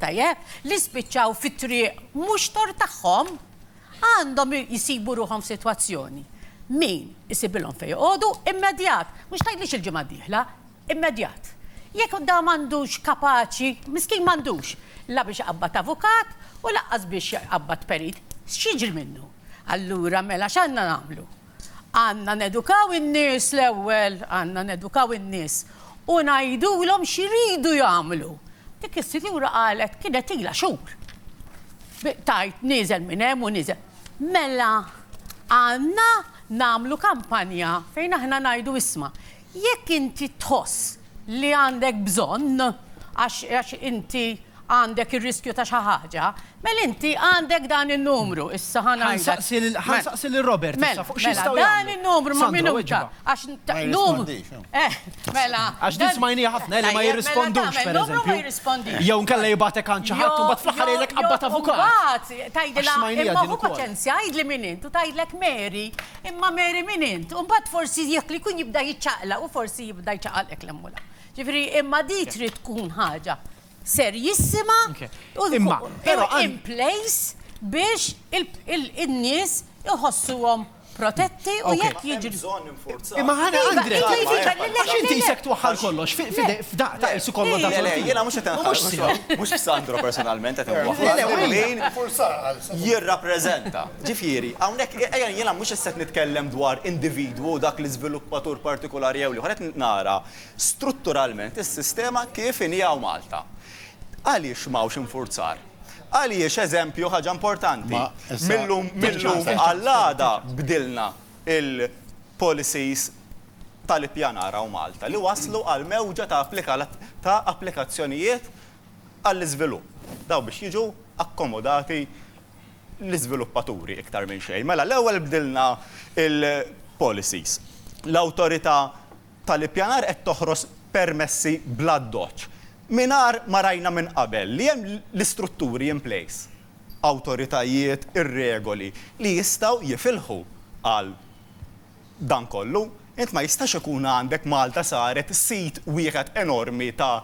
Tajjeb, li spiċċaw fit-triq mhux tort tagħhom, għandhom jsibu ruħhom f'sitwazzjoni, min isibilhom fejn joqogħdu immedjat, mhux tgħidlix il-ġimgħa d-dieħla, immedjat. Jekk dan m'għandux kapaċi, miskin m'għandux la biex iqabbad avukat u lanqas biex iqabbad perit, x'jiġri minnu? Allura mela x'għandna nagħmlu? Għandna nedukaw in-nies l-ewwel, għandna nedukaw in-nies u ngħidulhom x'iridu jagħmlu. Dik is-sinjura qalet kienet ilha xhur tgħid nieżel minn hemm u nieżel. Mela għandna nagħmlu kampanja fejn aħna ngħidu isma', Jekk inti tħoss li għandek bżonn għax inti għandek ir-riskju ta' xi ħaġa, mela inti għandek dan in-numru, issa ħa ngħidlek. Ħa nsaqsi lil Robert issa fuq x'jistgħu jagħmlu. Mela, dan in-numru ma' minuta għax numru. Mela. Għax din smajniha ħafna li ma jirrispondux pereżempju. Jew inkella jibgħatek għand xi ħadd u mbagħad fl-aħħar jgħidlek qabbad avukat. Imbagħad tgħidilha imma hu paċenzja għidli min int u tgħidlek Mary. Imma Mary min int? U mbagħad forsi jekk li jkun jibda jiċċaqlaq u forsi jibda jċaqalqek l-hemm u l-hemm. Ġifieri imma di trid tkun ħaġa serjissima u in place biex in-nies iħossuhom protetti u jekk jiġri. Imma ħana Andrej, għax inti jisek twaħħal kollox f'daq ta' isu kollu da' kollu. Jena mux jten ħaġa. Mux Sandro personalment għet mwaħħal. Jirrapprezenta. Ġifieri, hawnhekk, ejja, jiena mhux issa qed nitkellem dwar individwu u dak l-iżviluppatur partikulari jew l-ieħor, qed nara strutturalment is-sistema kif inhi hawn Malta. Għaliex m'hawnx infurzar? Għaliex, eżempju, ħaġa importanti, mil-lum għall-għada bdilna l-policies tal-ippjanar hawn Malta li wasslu għal mewġa ta' applikazzjonijiet għall-iżvilupp. Dawn biex jiġu akkomodati l-iżviluppaturi iktar minn xejn. Mela l-ewwel bdilna l-policies. L-Awtorità tal-Ippjanar qed toħros permessi bl-addoċċ mingħajr ma rajna minn qabel li hemm l-istrutturi in place, awtoritajiet, ir-regoli li jistgħu jifilħu għal dan kollu, int ma jistax ikun għandek Malta saret sit wieħed enormi ta'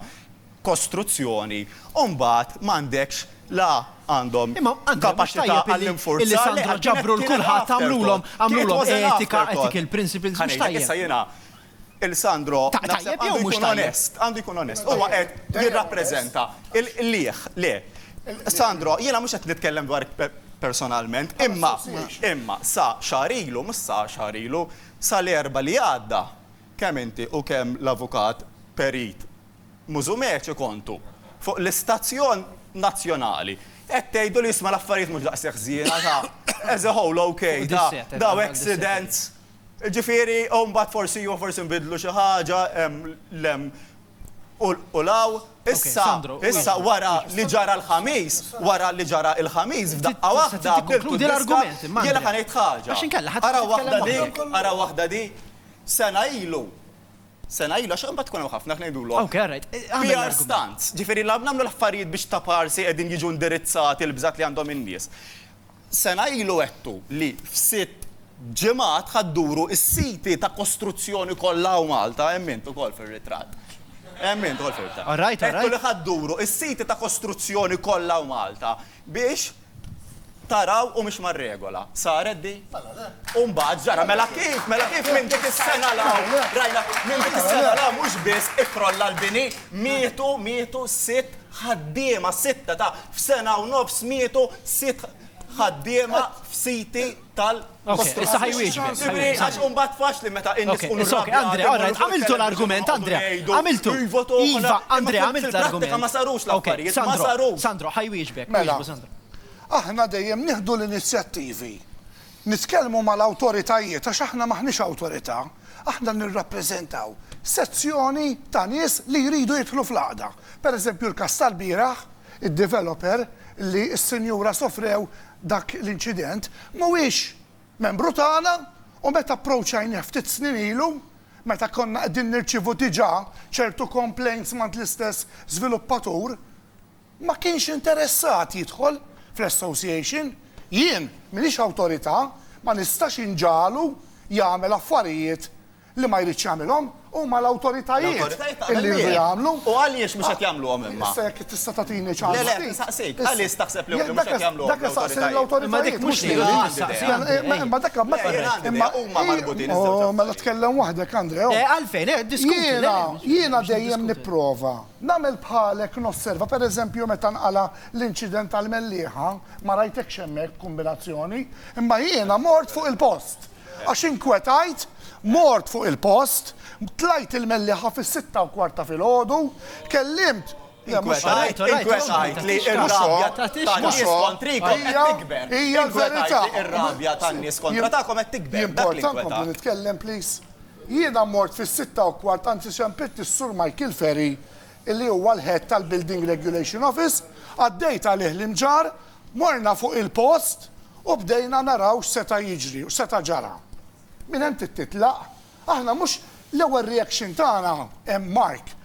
kostruzzjoni u mbagħad m'għandekx la għandhom kapaċità għall-infurzar li qed kienet l-afterthought. It was an afterthought. Ħa ngħidlek issa jiena Il Sandro naħseb għandu jkun onest, għandu jkun onest. Huwa qed jirrappreżenta il-qligħ, le. Sandro, jiena mhux qed nitkellem dwarek personalment, imma imma sa xahar ilu, mhux sa xahar ilu, sa l-Erbgħa li għadda, kemm inti u kemm l-Avukat Perit Musumeci kontu fuq l-istazzjon nazzjonali qed tgħidu li isma' l-affarijiet mhux daqshekk żiena ta' as a whole, okay, ta' daw accidents. Jiġifieri, u mbagħad forsi iva forsi nbiddlu xi ħaġa hemm l-hemm u l-hawn. Issa, issa wara li ġara l-Ħamis, wara li ġara l-Ħamis, f'daqqa waħda jiena ħa ngħid ħaġa. Ara waħda di, ara waħda di, sena ilu, sena ilu, għax imbagħad ikun hemm ħafna ngħidulhom PR stunts. Jiġifieri nagħmlu l-affarijiet biex ta' parsi qegħdin jiġu indirizzati l-bżat li għandhom in-nies. Sena ilu għedtu li f'sitt ġimgħat ħa dduru s-siti ta' kostruzzjoni kollha hawn Malta, hemm int ukoll fir-ritratt. Hemm int ukoll fir-ritratt. Għedtu li ħa dduru s-siti ta' kostruzzjoni kollha hawn Malta biex taraw u mhix mar-regola. Saret din? Mela le. U mbagħad ġara. Mela kif, mela kif minn dik is-sena 'l hawn rajna, minn dik is-sena 'l hawn mhux biss ikkrolla l-bini, mietu, mietu sitt, ħaddiema sitta ta' f'sena u nofs mietu sitt ħaddiema f'siti tal Okej, issa ħaj wieġbek. Jiġifieri għax imbagħad faċli meta in-nies ikunu rrabjati. Okej, Andrea, all right, għamiltu l-argument, Andrea. Għamiltu. Iva, Andrea, għamilt l-argument. Fil-prattika ma sarux l-affarijiet, ma sarux. Sandro, ħaj wieġbek. Mela, aħna dejjem nieħdu l-inizjattivi Nitkellmu mal-awtoritajiet għax aħna m'aħniex awtorità, aħna nirrappreżentaw sezzjoni ta' nies li jridu jidħlu fl-għaqda. Per eżempju l-każ tal-bieraħ, id-developer li s-sinjura sofrew dak l-inċident, mhuwiex membru tagħna u meta approċċajnieh ftit snin ilu, meta konna qegħdin nirċievu diġà ċertu complaints m'għand l-istess żviluppatur, ma kienx interessat jidħol fl-association, jien m'iniex awtorità ma nistax inġagħlu jagħmel affarijiet li ma jridx jagħmilhom, huma l-awtoritajiet li jridu jagħmlu. U għaliex mhux qed jagħmluhom imma? Issa jekk tista' tagħtini ċans. Le le qed insaqsik, għaliex taħseb li mhux qed jagħmluhom? Dak isaqsi lill-awtoritajiet mhux lili. Imma dak imma huma marbutin iż-żewġ affarijiet. Mela tkellem waħdek Andrea. Għalfejn, diskuti. Jiena dejjem nipprova. Nagħmel bħalek nosserva pereżempju meta nqala' l-inċident tal-mellieħa, ma rajtekx hemmhekk b'kumbinazzjoni, imma jiena mort fuq il-post. Għax inkwetajt, mort fuq il-post, tlajt il-mellieħa fis-sitta u kwart ta' filgħodu, kellimt, le mhux hekk. Inkwetqajt li r-rabja tan-nies kontrikom qed tikber. Inkwetqajt li r-rabja tan-nies kontra tagħkom qed tikber. Jimporta nkompli nitkellem please? Jiena mort fis-sitta u kwart anzi xempilt lis-Sur Michael Ferry illi huwa l-Head tal-Building Regulation Office, għaddejt għalih l-imġarr, morna fuq il-post u bdejna naraw x'seta' jiġri u x'seta' ġara. Minn hemm trid titlaq. Aħna mhux l-ewwel reaction tagħna, Mark,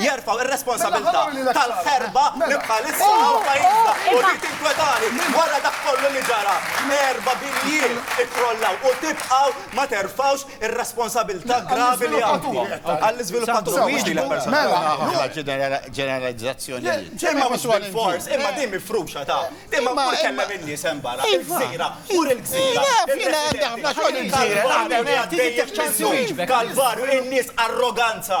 jerfgħu r-responsabilità tal-ħerba li bħalissa hawn pajjiżna u li tinkwetani wara dak kollu li ġara. Erba' binjiet ikkrollaw u tibqgħu ma terfgħux ir-responsabilità gravi li għandkom għall-iżviluppatur mhux lilek personalment. Ġeneralizzazzjonijiet. Imma mhux bil-fors, imma din mifruxa ta'. Imma mur kellem in-nies hemm barra. Il-gżira, mur il-gżira. Naf, jiena għandi ħafna xogħol il-gżira. Kalvarju, in-nies arroganza.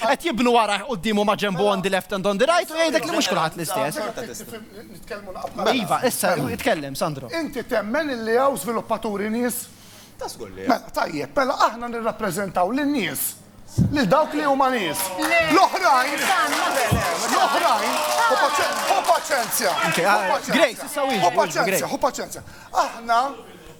Qed jibnu warajh quddiem u ma' ġenbu on the left and on the right u jgħidlek li mhux kulħadd l-istess. Nitkellmu naqbel. Iva, issa itkellem, Sandro. Inti temmen li hawn żviluppaturi nies? Ta' żgur li hawn. Tajjeb, mela aħna nirrappreżentaw lin-nies, lil dawk li huma nies. L-oħrajn, l-oħrajn, ħu paċenzja, ħu paċenzja, ħu paċenzja, ħu paċenzja. Aħna,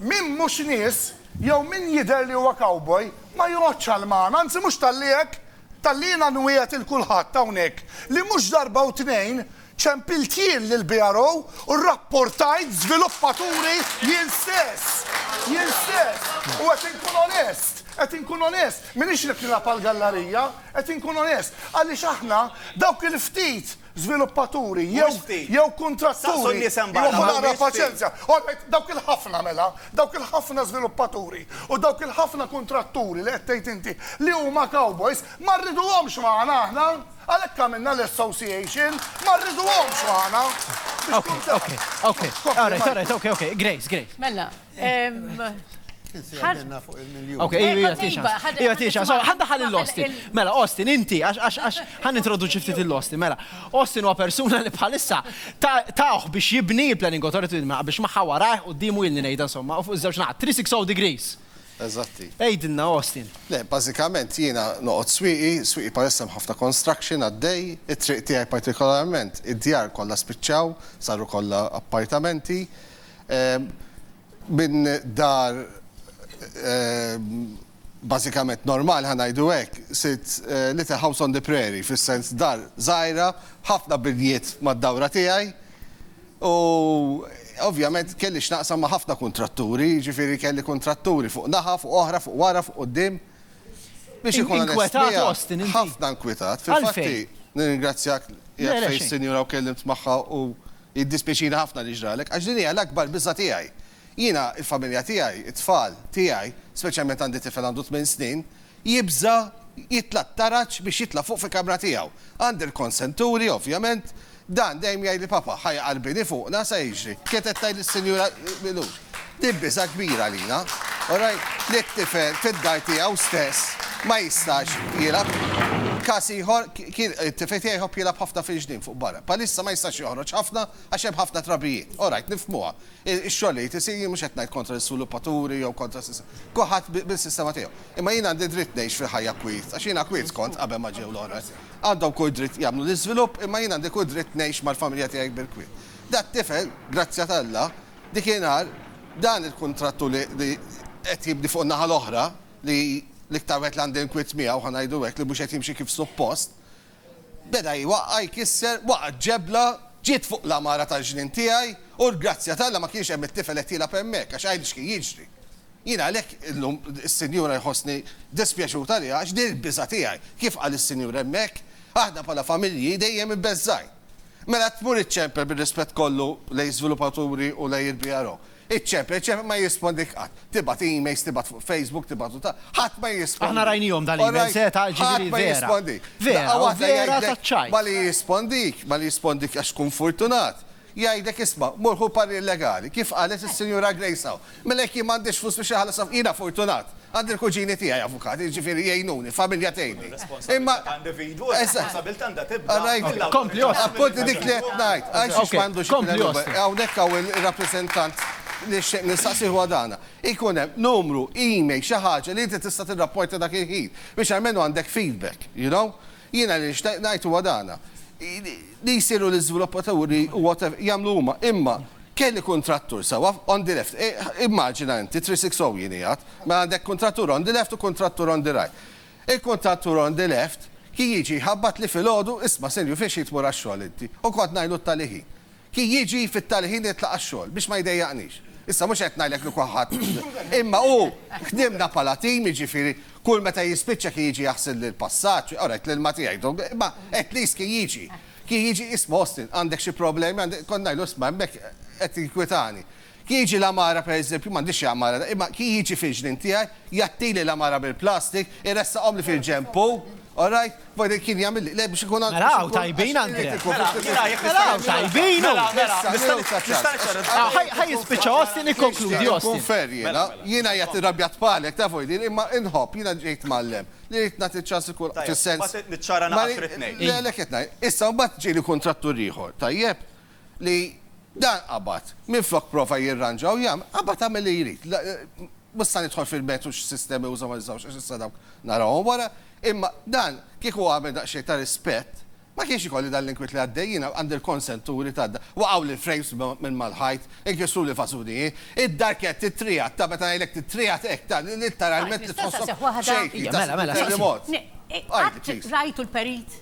min mhux nies, Jew min jidher li huwa cowboy ma joqgħodx għal magħna, anzi mhux talli hekk, talli jiena nwiegħed lil kulħadd hawnhekk li mhux darba u tnejn ċempilt jien lill-BRO u rrapportajt żviluppaturi jien stess, jien stess, u qed inkun onest, qed inkun onest, m'iniex qed nilgħab għall-gallarija, qed inkun onest, għaliex aħna dawk il-ftit żviluppaturi jew jew kuntratturi jieħu naqra paċenzja. Alright, dawk il-ħafna mela, dawk il-ħafna żviluppaturi u dawk il-ħafna kuntratturi li qed tgħid inti li huma cowboys ma rriduhomx magħna aħna. Għalhekk għamilna l-association, ma rriduhomx magħna. Okej, okej, okej. Alright, alright, okej, okej. Grace, Grace. Mela, Għadna fuq il-miljon. Ok, ija tixa. Ija tixa, so, ħadda ħal l-Austin. Mela, Austin, inti, għax, għax, għax, ħan introduċi ftit l-Austin, mela. Austin huwa persuna li bħalissa taħ biex jibni il-planning authority ma biex maħħa warajh u d-dimu jilni nejda, somma, u fuq iż-żewġ naħat, 360 degrees. Eżatti. Ejdinna, Austin. Le, bazzikament jiena noqgħod swiqi, swiqi palissa ħafna construction għaddej, it-triq tiegħi partikolarment, id-djar kollha spiċċaw, saru kollha appartamenti, Minn dar bażikament normali, ħa ngħidu hekk, sirt little house on the prairie, fis-sens dar żgħira, ħafna binjiet mad-dawra tiegħi u ovvjament kelli x'naqsam ma' ħafna kuntratturi, jiġifieri kelli kuntratturi fuq naħa, fuq oħra, fuq wara, fuq quddiem. Biex inkun onest miegħek, ħafna inkwetat. Fil-fatt hi, nirringrazzjak, qiegħed fejn is-sinjura u tkellimt magħha u Jiddispjaċini ħafna li ġralek, għax din hija l-akbar biża' tiegħi. Jiena, il-familja tiegħi, it-tfal tiegħi, speċjalment għandi tifel għandu tmien snin, jibża' jitla' t-taraġ biex jitla' fuq fil-kamra tiegħu. Għandi l-konsenturi, ovvjament. Dan dejjem jgħidli, 'Papa, ħa jaqarbini fuqna, sa jiġri? Kienet qed tgħidli s-Sinjura Milur. Din biża' kbira għalina. Ora li t-tifel fid-dar tiegħu stess ma jistax jilgħab. Każ ieħor kien, it-tifel tiegħi jħobb jilgħab ħafna fil-ġnien fuq barra. Bħalissa ma jistax joħroġ ħafna għax hemm ħafna trabijiet. Orajt, nifhmuha. Ix-xogħol li jrid isir, jien mhux qed ngħid kontra l-isulupaturi jew kontra kulħadd bis-sistema tiegħu. Imma jien għandi dritt ngħix fil-ħajja kwiet, għax jiena kwiet kont qabel ma ġew l-oħrajn. Għandhom kull dritt jagħmlu l-iżvilupp, imma jien għandi kull dritt ngħix mal-familja tiegħi bil-kwiet. Dat-tifel, grazzja t'Alla, Dikinhar, dan il-kuntrattu li qed jibni fuq in-naħa l-oħra, li l-iktar wieħed li għandi nkwiet miegħu, ħa ngħidu hekk, li mhux qed jimxi kif suppost, beda jwaqqa', jkisser, waqgħet ġebla, ġiet fuq l-għamara tal-ġnien tiegħi, u l-grazzja t'Alla ma kienx hemm it-tifel qed jilgħab hemmhekk, għax għidli x'kien jiġri. Jiena għalhekk illum, is-Sinjura jħossni dispjaċut għaliha, għax din il-biża' tiegħi, kif qal is-Sinjur hemmhekk, aħna bħala familji dejjem ibbeżżgħin. Mela qed tmur iċċempel bir-rispett kollu lejn żviluppaturi u lejn il-BRO. Iċċempel, iċċempel, ma jirrispondik qatt. Tibgħat emails, tibgħat fuq Facebook, tibgħat u ta, ħadd ma jirrispondik. Aħna rajnihom dawn l-emails, eh, ta' ġifieri vera. Ħadd ma jirrispondik. Vera, u vera taċ-ċajt. Malli jirrispondik, malli jirrispondik għax tkun furtunat, jgħidlek isma', mur ħu parir legali, kif qalet is-Sinjura Grace hawn. Mela jekk jien m'għandix flus biex inħallas avukati, jiena fortunat, għandi l-kuġini tiegħi avukati, jiġifieri jgħinuni, il-familja tgħinni. Imma Appunt dik li qed ngħid, għax għax m'għandux ikun hemm hawnhekk hawn ir-rappreżentant li xtaqt nistaqsih huwa dan. Ikun hemm numru, email, xi ħaġa li inti tista' tirrapporta dak il-ħin biex almenu għandek feedback, you know? Jiena li nixtaq ngħid huwa dan, li jsiru l-iżviluppaturi u whatever, jagħmlu huma, imma kemm il-kuntrattur sewwa, on the left, immaġina inti, 360 jien qiegħed, mela għandek kuntrattur on the left u kuntrattur on the right. Il-kuntrattur on the left kien jiġi jħabbatli filgħodu, isma' Silju fiex trid tmur għax-xogħol inti? U kont ngħidlu t-tali ħin. Kien jiġi fit-tali ħin jitlaq għax-xogħol biex ma jdejjaqnix. Issa mhux qed ngħidlek li kulħadd imma hu ħdimna bħala tim, jiġifieri kull meta jispiċċa kien jiġi jaħsilli l-passaġġ, ora għedt l-ilma tiegħi dum, imma at least kien jiġi. Kien jiġi, isma' Austin, għandek xi problemi, kont ngħidlu isma' hemmhekk qed tinkwitani. Kien jiġi l-għamara pereżempju, m'għandix xi għamara da, imma kien jiġi fil-ġnien tiegħi, jgħattili l-għamara bil-plastik, iressaqhomli fil-ġenb hu, all right, wara kien jagħmilli, le biex ikun għandi. Mela hawn tajbin Andrea. Mela, mela jekk Mela hawn tajbin hu. Mela, mela, nista' nista' niċċarrad. Ah, ħaj- ħaj jispiċċa Austin ikkonkludi Jien Austin. nkun fair jiena, jiena jgħat irrabja tfalek, tafu jdir, imma inħobb, jiena ġejt mgħallem, li rrid nagħti ċans lil kull fis-sens. Mbagħad niċċara Ma naqas ri- rrid ngħid. Le, le qed ngħid. Issa mbagħad ġieli kuntrattur ieħor, tajjeb? li dan qabad, minflok prova jirranġa u jagħmel, qabad għamel li jrid. Mhux se nidħol fil-mertu x'sistemi uża u ma użawx għax issa dawk narahom wara, imma dan kieku għamel daqsxejn ta' rispett, ma kienx ikolli dan l-inkwiet li għaddej. Jiena għandi l-konsenturi ta' dan. Waqgħuli l-frames minn mal-ħajt, inkisruli fażuni hi, id-darkett, it-triegħat, ta' meta ngħidlek it-triegħat hekk ta' litteralment li tħosshom xejkri ta' terremot. Qatt rajtu l-perit?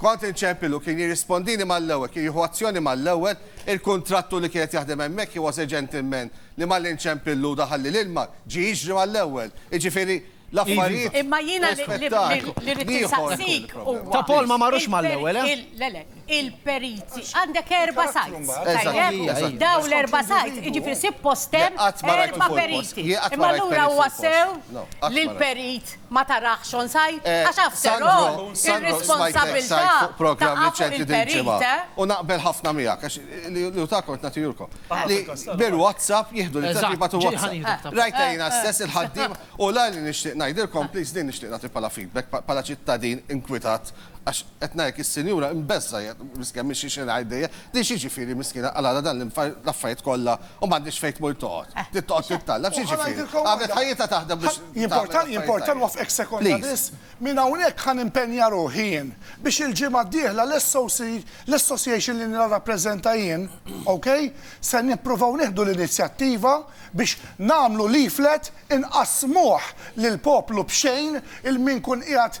Kont inċempil u kien jirrispondini mal-ewwel, kien jieħu azzjoni mal-ewwel. Il-kuntrattur li kien qed jaħdem hemmhekk, he was a gentleman, li malli nċempillu daħalli l-ilma, ġie jiġri mal-ewwel. Jiġifieri, l-affarijiet Imma jiena li rrid insaqsik huwa. Ta' Paul ma marrux mal-ewwel, eh? Le, le, il-periti. Għandek erba' sites, tajjeb? Dawn l-erba' sites, jiġifieri suppost hemm erba' periti. Imma allura huwa sew li l-perit. Ma tarax on site? Eh, Għax after Sandro, all, Sandro, smajtlek site ir-responsabbiltà fuq programm taqa' fuq riċenti din il-perit, il-ġimgħa. eh? U naqbel ħafna miegħek, għax li li hu ta' kont nagħti jurkom. Li bil-WhatsApp jieħdu l-inizjattiva Eżatt, tu ġej WhatsApp. ħanieħdek ta' Rajtha Eh, jiena eh, stess il-ħaddiema u l-għan li nixtieq ngħidilkom, please din nixtieq nagħti bħala feedback pa- bħala ċittadin inkwitat Għax, qed ngħidlek, is-sinjura imbeżżgħa hija, miskina, mhix xi xi ngħid dejjem, din x'jiġifieri miskina qalgħalha dan l-imfar l-affarijiet kollha u m'għandhiex fejn tmur toqgħod. Trid toqgħod tittallab, x'jiġifieri? Għamlet ħajjitha taħdem biex tagħmel l-affarijiet tajjeb. Jimporta nwaffqek sekonda biss? Minn hawnhekk ħa nimpenja ruħi jien biex il-ġimgħa d-dieħla l-SOC, l-association li nirrappreżenta jien, ok, se nippruvaw nieħdu l-inizjattiva biex nagħmlu leaflet inqassmuh lill-poplu b'xejn il-min ikun qiegħed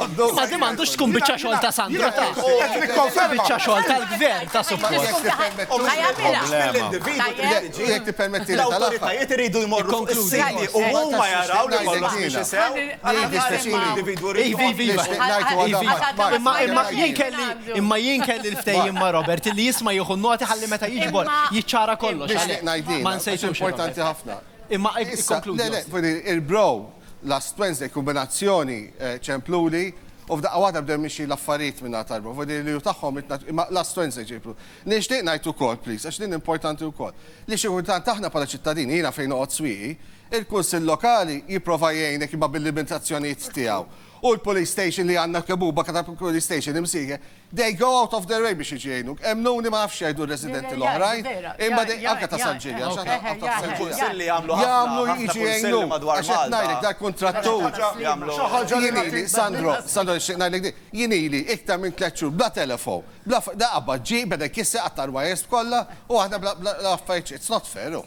Ma di m'għandux tkun biċċa xogħol ta' Sandro ta'. Qed nikkonferma. Biċċa xogħol tal-gvern ta' suppost. Jekk tippermetti li tal-awtoritajiet iridu jmorru fuq is-siti u huma jaraw li kollox mhix isew. Imma jien kelli l-ftehim ma' Robert li jisma' jieħu noti ħalli meta jiġbor jiċċara kollox. Ma nsejtux. Importanti ħafna. Imma ikkonkludi. Il-bro Last Wednesday, kombinazzjoni ċempluli u f'daqqa waħda bdew mixjin l-affarijiet min-naħa tal-Lvov. U din il-liju tagħhom itna imma last Wednesday ġibu. Nixtieq ngħid ukoll, please, għax din importanti wkoll, li xi kultant aħna bħala ċittadini, jiena fejn noqgħod Swieqi, il-Kunsill Lokali jipprova jgħinek imma bil-limitazzjonijiet tiegħu. U l-Police Station li għandna kemm hu, b'aktar Police Station imsieħeb, They go out of their way biex jiġu jgħinuk. Emmnuni ma nafx x'jgħidu r-residenti l-oħrajn, imma they, anke ta' San Ġiljan, x'għad tgħid, anke ta' San Ġiljan. Jagħmlu jiġu jgħinuk. Għax qed ngħidlek, dal-kuntrattur, jien ili, Sandro, Sandro nixtieq ngħidlek din, jien ili iktar minn tliet xhur bla telefon, bla, da qabad ġie, beda jkisser, qatta' l-wires kollha, u aħna bla, bla, bla affarijiet, it's not fair, hu.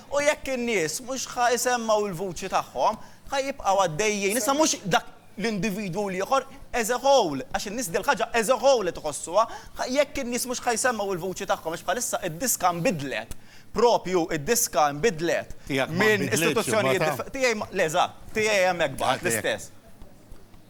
U jekk in-nies mhux ħa jsemmgħu l-vuċi tagħhom, ħa jibqgħu għaddejjin. Issa mhux dak l-individwu u l-ieħor, as a whole, għax in-nies dil-ħaġa as a whole qed iħossuha, ħa jekk in-nies mhux ħa jsemmgħu l-vuċi tagħhom, għax bħalissa d-diska nbidlet, proprju d-diska nbidlet minn istituzzjonijiet diffe. Tiegħi ma, le, eżatt, tiegħi hemmhekk baqa' l-istess.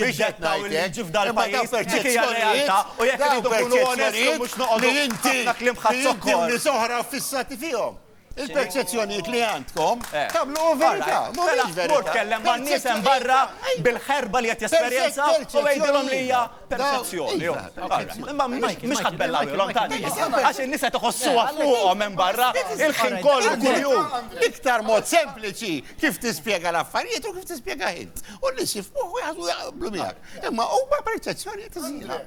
jiddettaw li jiġi f'dal pajjiż dik hija r-realtà u jekk irridu nkunu onesti mhux noqogħdu ħafna kliem ħadd zokkor. Li inti u oħra ffissati fihom. Il-perċezzjonijiet li għandkom tagħmluhom verità. Mela, mur tkellem man-nies hemm barra bil-ħerba li qed jesperjenza u għidilhom li hija perċezzjoni. Imma mhux ħadd bellagħulhom ta' nies. Għax in-nies qed iħossuha fuqhom hemm barra il-ħin kollu kuljum. L-iktar mod sempliċi kif tispjega l-affarijiet u kif tispjega int. U n-nies jifmuh u jaħsbu jaqblu miegħek. Imma huma perċezzjonijiet iżgħira.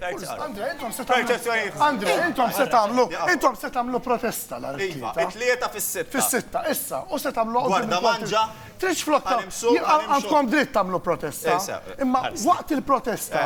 Andre, intom se tagħmlu. Andre, intom se tagħmlu. Intom se tagħmlu protesta nhar it-Tlieta. Iva, it-Tlieta fis-sitta. Fis-sitta, issa, u se tagħmlu. Gwarda manġa. Tridx flok. Għandkom dritt tagħmlu protesta. Imma waqt il-protesta.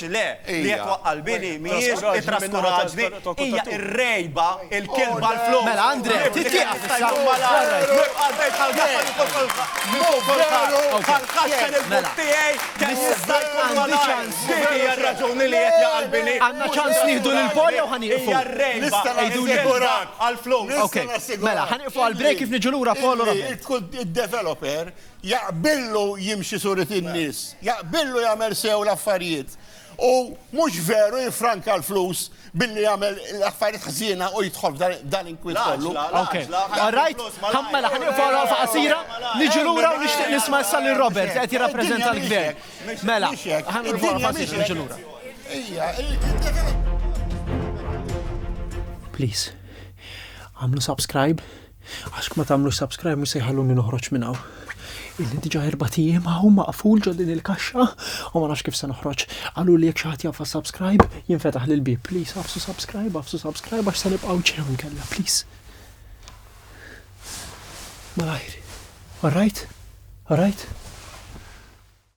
Le, li qed twaqqa' l-bini mhijiex it-traskuraġni, hija r-rgħiba, il-kilba, l-flus. Mela, Andrè, trid tieqaf issa. Għandna ċans nieħdu lil Paul jew ħa nieqfu? Għejduli. Mela, ħa nieqfu għall-break kif niġu lura Paul u Robert. Id-developer Jaqbillu jimxi surit in-nies, jaqbillu jagħmel sew l-affarijiet. U mhux veru jiffranka l-flus billi jagħmel l-affarijiet ħżiena u jidħol dan inkwit kollu. Rajt, ħammela ħan iqfgħu faqasira, niġu lura u nixtieq nisma' issa lil Robert qed jirrappreżenta l-gvern. Mela, ħan iqfgħu faqasira niġu lura. Please, għamlu subscribe. Għax kma tagħmlux subscribe mhux se jħalluni noħroġ minn hawn. Illi diġà erba' ijiem hawn maqful ġo din il-kaxxa u ma nafx kif se noħroġ. Qalu li jekk xi ħadd jafas subscribe jinfetaħ lil bib. Please għafsu subscribe, għafsu subscribe għax se nibqgħu ġew inkella, please. Malajr. Alright? Alright?